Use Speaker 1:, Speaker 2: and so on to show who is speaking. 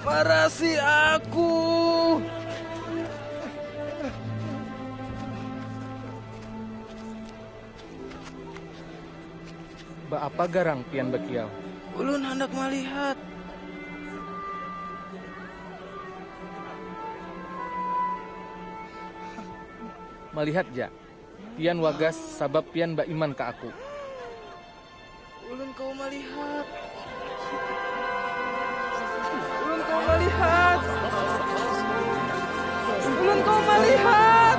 Speaker 1: Marasi aku. Baapa garang pian bakiau? Ulun handak malihat. Malihat ja. Pian wagas sabab pian baiman ka aku. Ulun kawa malihat. Ulun kawa malihat. Ulun kawa malihat.